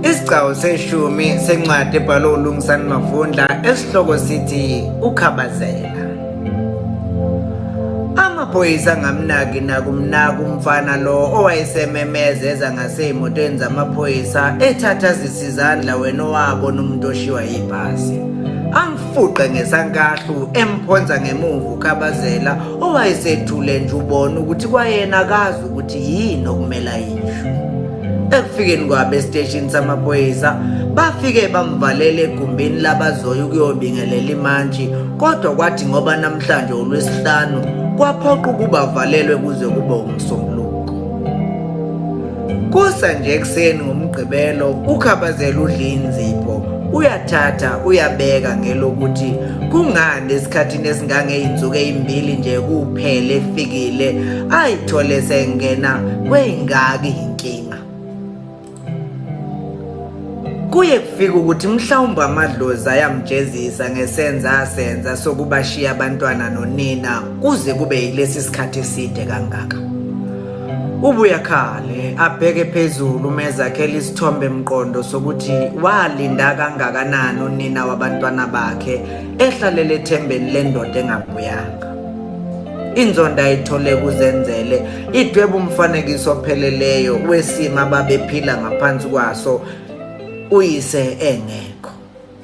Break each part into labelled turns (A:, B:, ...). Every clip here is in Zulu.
A: Isigcawu seshumi sencwadi ebhalwe uLungisani Mavundla esihloko sithi Ukhabazela. Amaphoyisa angamnaki nakumnaka umfana lo owayesememeza eza ngasey'motweni zamaphoyisa ethatha zisizandla wena owabona umuntu oshiwa yibhasi. Amfuqe ngesankahlu emphonsa ngemuva ukhabazela owayesethule nje ubona ukuthi kwayena akazi ukuthi yini okumele ayisho ekufikeni kwabo esiteshini samaphoyisa bafike bamvalela egumbini labazoya ukuyobingelela imantshi kodwa kwathi ngoba namhlanje ulwesihlanu kwaphoqa ukuba avalelwe kuze kube umsombuluko kusa nje ekuseni ngomgqibelo ukhabazela udlinzipho uyathatha uyabeka ngelokuthi kungani esikhathini esingangezinsuku ezimbili nje kuphele efikile ayithole sengena kweyingaki inkinga kuye kufika ukuthi mhlawumbe amadlozi ayamjezisa ngesenza asenza sokubashiya abantwana nonina kuze kube yilesi sikhathi eside kangaka Ubuya khale abheke phezulu umezakhela isithombe mqondo sokuthi walinda kangakanani unina wabantwana bakhe ehlalele ethembeni lendoda engabuyanga. Inzondo ayithole kuzenzele idweba umfanekiso opheleleyo wesimo ababephila ngaphansi kwaso uyise engekho.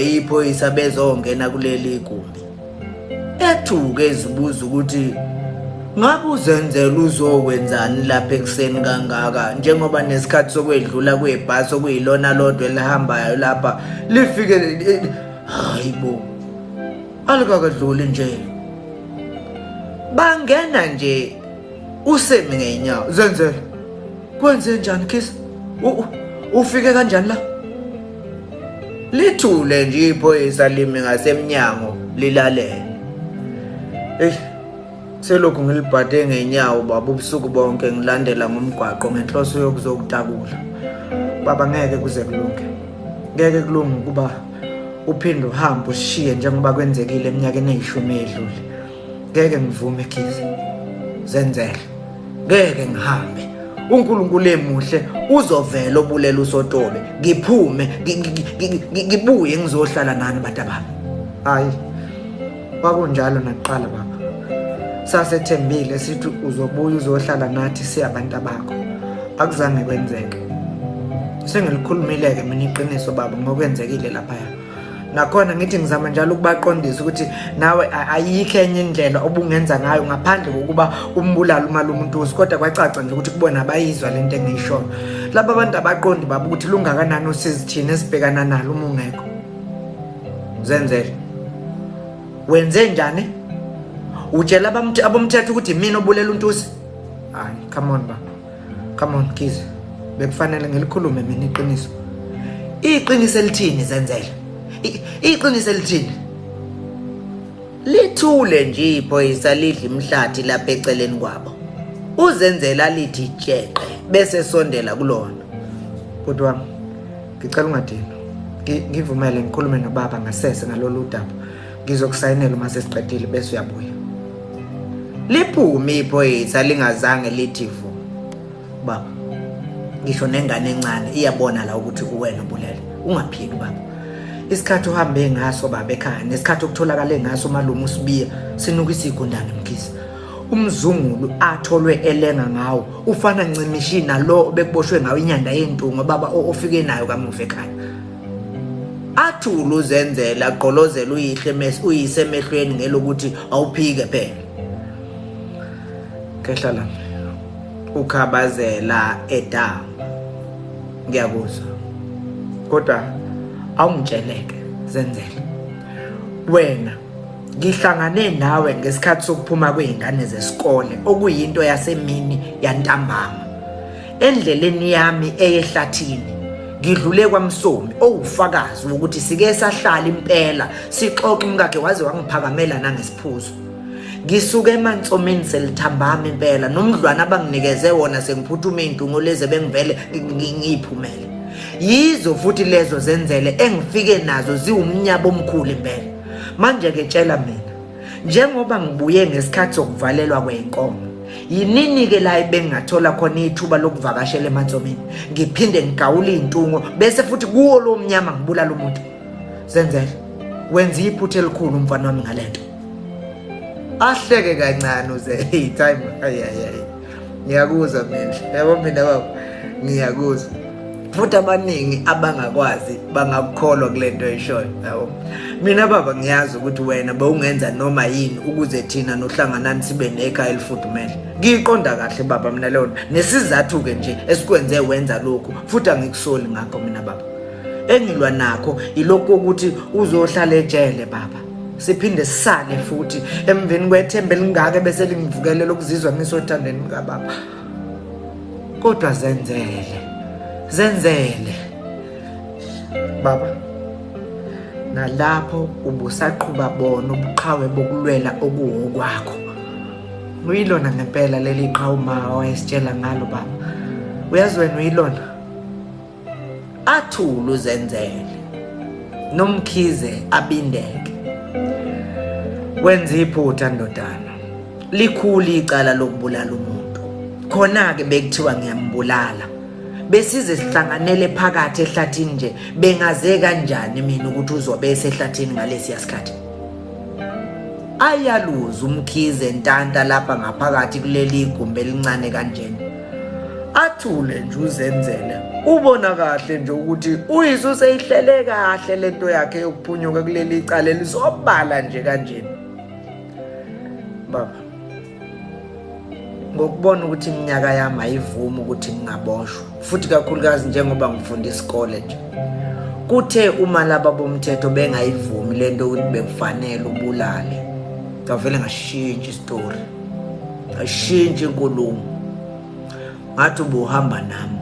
A: yiphoyisa bezongena kuleli gumbi ethuke ezibuza ukuthi ngabe uzenzela uzokwenzani lapha ekuseni kangaka njengoba nesikhathi sokwedlula kwebhasi okuyilona lodwa elihambayo lapha lifike hayi bo alikakadluli nje bangena nje usemi ngeenyawo zenzela Kwenze njani kiss? Ufike kanjani la? Lithule nje iphoyisa limi ngasemnyango lilalele. Ey selokhu ngilibhade ngenyawo baba ubusuku bonke ngilandela ngomgwaqo ngenhloso yokuzokutakula. Baba ngeke kuze kulunge. Ngeke kulunge ukuba uphinde uhambe ushiye njengoba kwenzekile eminyakeni eyishumi edlule. ngeke ngivume khizi zenzele ngeke ngihambe uNkulunkulu emuhle uzovela obulela usotobe ngiphume ngibuye ngizohlala nani batabami hayi kwakunjalo nakuqala baba sasethembile sithi uzobuya uzohlala nathi siyabantu bakho akuzange kwenzeke sengilikhulumile-ke mina iqiniso baba ngokwenzekile laphaya ngakhona ngithi ngizama njalo ukubaqondisa ukuthi nawe ayikho enye indlela obungenza ngayo ngaphandle kokuba umbulala umali umuntuzi kodwa kwacaca nje ukuthi kubona abayizwa le nto engiyishoyo laba bantu abaqondi baba ukuthi lungakanani usizi thina esibhekana nalo uma ungekho zenzele wenze njani utshela abomthetho ukuthi mina obulela untusi hayi come on baba come on kize bekufanele ngilikhulume mina iqiniso iqiniso elithini zenzele iqiniso elithini lithule nje iphoyisa lidla imhlathi lapha eceleni kwabo uzenzela lithi jeqe bese sondela kulona bhuti wami ngicela ungadini ngivumele ngikhulume nobaba ngasese ngalolu daba ngizokusayinela uma sesiqedile bese uyabuya liphume iphoyisa lingazange lithi vu baba ngisho nengane encane iyabona la ukuthi kuwena ubulele ungaphiki baba isikhathi uhambe ngaso baba ekhaya nesikhathi okutholakale ngaso malume usibiya sinuka isigundane mkhize umzungulu atholwe elenga ngawo ufana ncimishi nalo bekuboshwe ngawo inyanda yentungo baba ofike nayo kamuva ekhaya athule uzenzele agqolozele uyihle mes uyise emehlweni ngelokuthi awuphike phela khehla la ukhabazela edama ngiyakuzwa kodwa awungitsheleke zenzele wena ngihlangane nawe ngesikhathi sokuphuma kwezingane zesikole okuyinto yasemini yantambama Endleleni yami eyehlathini ngidlule kwamsomi owufakazi wokuthi sike sahlala impela sixoxa umkakhe waze wangiphakamela nangesiphuzo ngisuke emantsomeni selithambama impela nomdlwana abanginikeze wona sengiphuthume intungo leze bengivele ngiyiphumele yizo futhi lezo zenzele engifike nazo ziwumnyabo omkhulu impela manje ke tshela mina Njengoba ngibuye ngesikhathi sokuvalelwa kwenkomo, yinini-ke la ebengingathola khona ithuba lokuvakashela emantsomini ngiphinde ngigawule iy'ntungo bese futhi kuwo lo mnyama ngibulala umuntu zenzele wenza iphutha elikhulu umfana wami ngale nto ahleke kancane uze hey time ayayayi ngiyakuzwa mina yabo mina baba ngiyakuzwa futhi abaningi abangakwazi bangakukholwa kule nto eshoyo yabo mina baba ngiyazi ukuthi wena bewungenza noma yini ukuze thina nohlanganani sibe nekhaya elifudumele ngiyiqonda kahle baba mina leyo nto nesizathu-ke nje esikwenze wenza lokhu futhi angikusoli ngakho mina baba engilwa nakho ilokhu ukuthi uzohlala ejele baba siphinde sisale futhi emveni kwethemba elingaka ebese lingivukelela ukuzizwa ngisothandweni mkababa kodwa zenzele zenzele baba nalapho ubusaqhuba bona ubuqhawe bokulwela okuwokwakho uyilona ngempela leli qhawu ma wayesitshela ngalo baba uyazi wena uyilona athule uzenzele nomkhize abindeke wenza iphutha ndodana likhulu icala lokubulala umuntu khona-ke bekuthiwa ngiyambulala besize sihlanganele phakathi ehlathini nje bengaze kanjani mina ukuthi uzobe esehlathini ngalesiya sikhathi ayaluza umkhize ntanta lapha ngaphakathi kuleli igumbi elincane kanjena athule nje uzenzele ubona kahle nje ukuthi uyise useyihlele kahle lento yakhe yokuphunyuka kuleli icala elisobala nje kanjena baba ngokubona ukuthi iminyaka yami ayivumi ukuthi ngingaboshwa futhi kakhulukazi njengoba ngifunda isikole nje kuthe uma laba bomthetho bengayivumi lento ukuthi bekufanele ubulale ngavele ngashintshi isitori ngashintsha inkulumo ngathi ubuhamba nami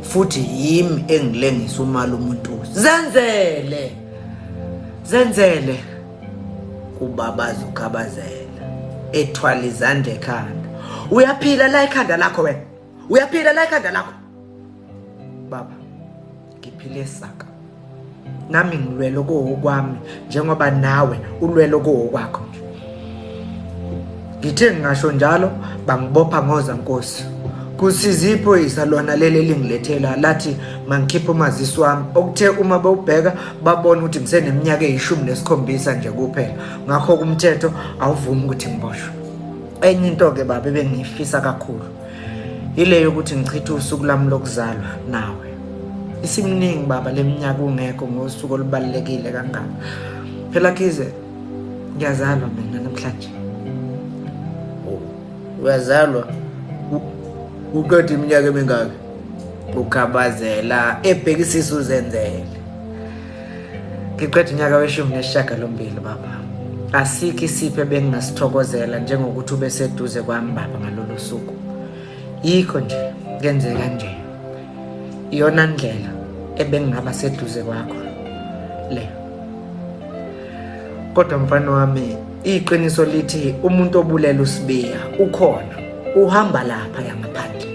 A: futhi yimi engilengisa umali umuntu zenzele zenzele ubabaza ukhabazela ethwala izandla ekhanda uyaphila la ikhanda lakho wena uyaphila la ikhanda lakho baba ngiphile saka nami ngilwele okowokwami njengoba nawe ulwele okowokwakho nje ngithe ngingasho njalo bangibopha ngoza nkosi kusiza iphoyisa lona leli elingilethela lathi mangikhiphe umazisi wami okuthe uma bewubheka babona ukuthi ngiseneminyaka eyishumi nesikhombisa nje kuphela ngakho kumthetho awuvumi ukuthi ngiboshwe enye into-ke baba ebengiyifisa kakhulu Yile yokuthi ngichithe usuku lami lokuzalwa nawe. Isimningi baba leminyaka ungekho ngosuku olubalekile kangaka. Phela kize ngiyazalwa mina namhlanje. Uyazalwa uqeda iminyaka emingaki? Ukhabazela ebhekisisa uzenzele. ngiqeda unyaka weshumi nesishagalombili baba asikho isipho ebengingasithokozela njengokuthi ube seduze kwami baba ngalolo suku yikho nje kenzeka kanje iyona ndlela ebengingaba seduze kwakho le kodwa mfana wami iqiniso lithi umuntu obulela usibiya ukhona uhamba lapha yangaphandle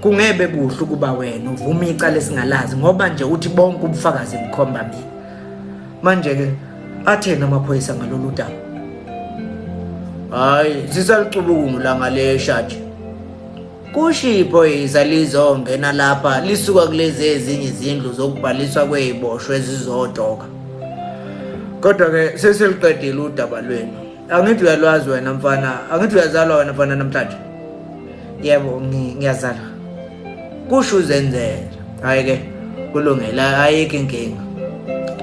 A: kungebe kuhle ukuba wena uvume icala esingalazi ngoba nje uthi bonke ubufakazi bukhomba mina manje-ke atheni amaphoyisa ngalolu daba hhayi sisalucubukungu langa le shaji kusho iphoyisa lizongena lapha lisuka kulezi ezinye izindlu zokubhaliswa kwey'boshwa ezizodoka kodwa-ke sesiliqedile udaba lwenu angithi uyalwazi wena mfana angithi uyazalwa wena mfana namhlanje yebo ngiyazalwa kusho uzenzela hhayi ke kulungele ayikho inkinga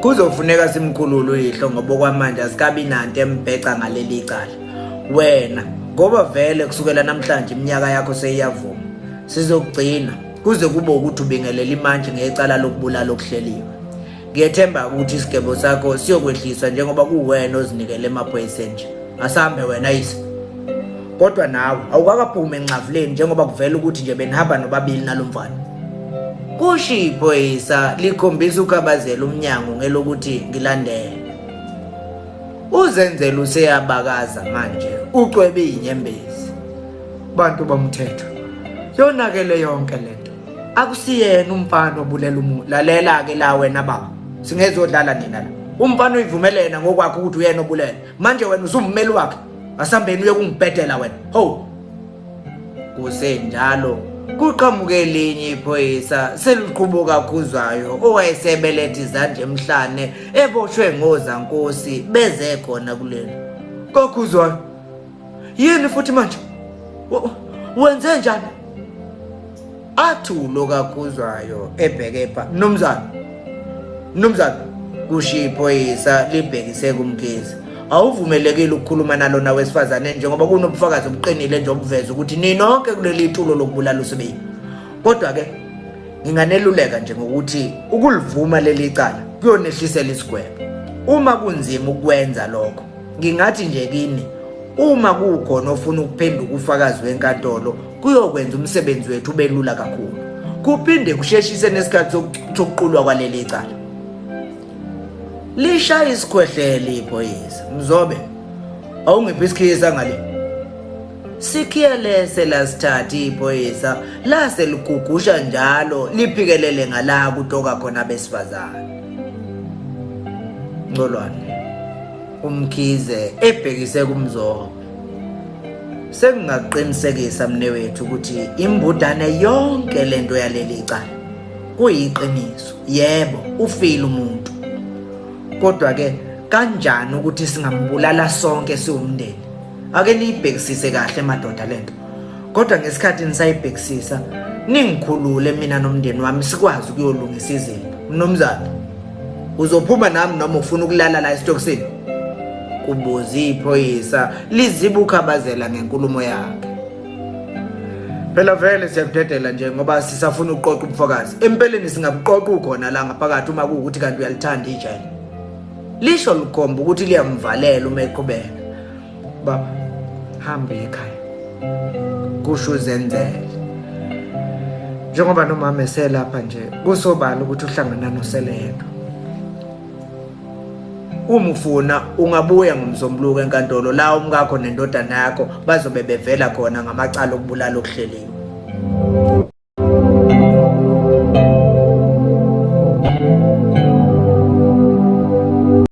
A: kuzofuneka simkhulule uyihlo ngoba okwamanje asikabi nanto embheca ngaleli cala wena ngoba vele kusukela namhlanje iminyaka yakho seyiyavuma sizokugcina kuze kube ukuthi ubingelela imantshi ngecala lokubulala okuhleliwe ngiyethemba ukuthi isigebo sakho siyokwehliswa njengoba kuwena ozinikele emaphoyiseni nje asambe wena yise kodwa nawe awukakaphumi enxavuleni njengoba kuvela ukuthi nje benihamba nobabili nalo mfana kusho iphoyisa likhombisa ukhabazela umnyango ngelokuthi ngilandele uzenzela useyabakaza manje ucwebe inyembezi bantu bomthetho yonakele yonke lento akusiyena umfana obulela umuntu lalela ke la wena baba singezodlala nina la umfana uyivumelena ngokwakhe ukuthi uyena obulela manje wena usummeli wakhe asambeni uye kungibhedela wena ho kusenjalo kuqhamuke elinye iphoyisa seliqhubo kakhuzayo owayesebelethe izandla emhlane eboshwe ngozankosi beze khona kulena kakhuzwayo yini futhi manje wenze njani athi ulo kakuzwayo ebheke pha mnumzane mnumzane kushiya iphoyisa libhekise kumkhizi awuvumelekile ukukhuluma nalona wesifazane njengoba kunobufakazi obuqinile nje obuveza ukuthi ninonke kuleli tulo lokubulala usibili kodwa-ke nginganeluleka nje ngokuthi ukulivuma leli cala kuyonehlisela isigwebo uma kunzima ukwenza lokho Ngingathi nje kini uma kukhona ofuna ukuphenduka ufakazi wenkantolo kuyokwenza umsebenzi wethu ubelula kakhulu kuphinde kusheshise nesikhathi sokuqulwa kwaleli cala lishaya isikhwehlele iphoyisa mzobe awungiphi isikhiyisa ngale sikhiyelese lasithathi iphoyisa lase ligugusha njalo liphikelele ngala kutoka khona besifazane ncolwane uMkhize ebhekise kuMzobe sengingaqinisekisa mnewethu ukuthi imbudane yonke lento yaleli cala kuyiqiniso yebo ufile umuntu kodwa ke kanjani ukuthi singambulala sonke siwumndeni ake niyibhekisise kahle madoda lento kodwa ngesikhathi nisayibhekisisa ningikhulule mina nomndeni wami sikwazi ukuyolungisa izinto mnumzane uzophuma nami noma ufuna ukulala la esitokisini kubuza iphoyisa liziba ukhabazela ngenkulumo yakhe phela vele siyakudedela nje ngoba sisafuna ukuqoqa ubufakazi empeleni singabuqoqa ukhona la ngaphakathi uma kuwukuthi kanti uyalithanda ijele lisho likhomba ukuthi liyamvalela uma eqhubeka baba hambe ekhaya kusho uzenzele njengoba nomama eselapha nje kusobala ukuthi uhlangana noseleka uma ufuna ungabuya ngomsombuluko enkantolo la umkakho nendodana yakho bazobe bevela khona ngamacala okubulala okuhleliwe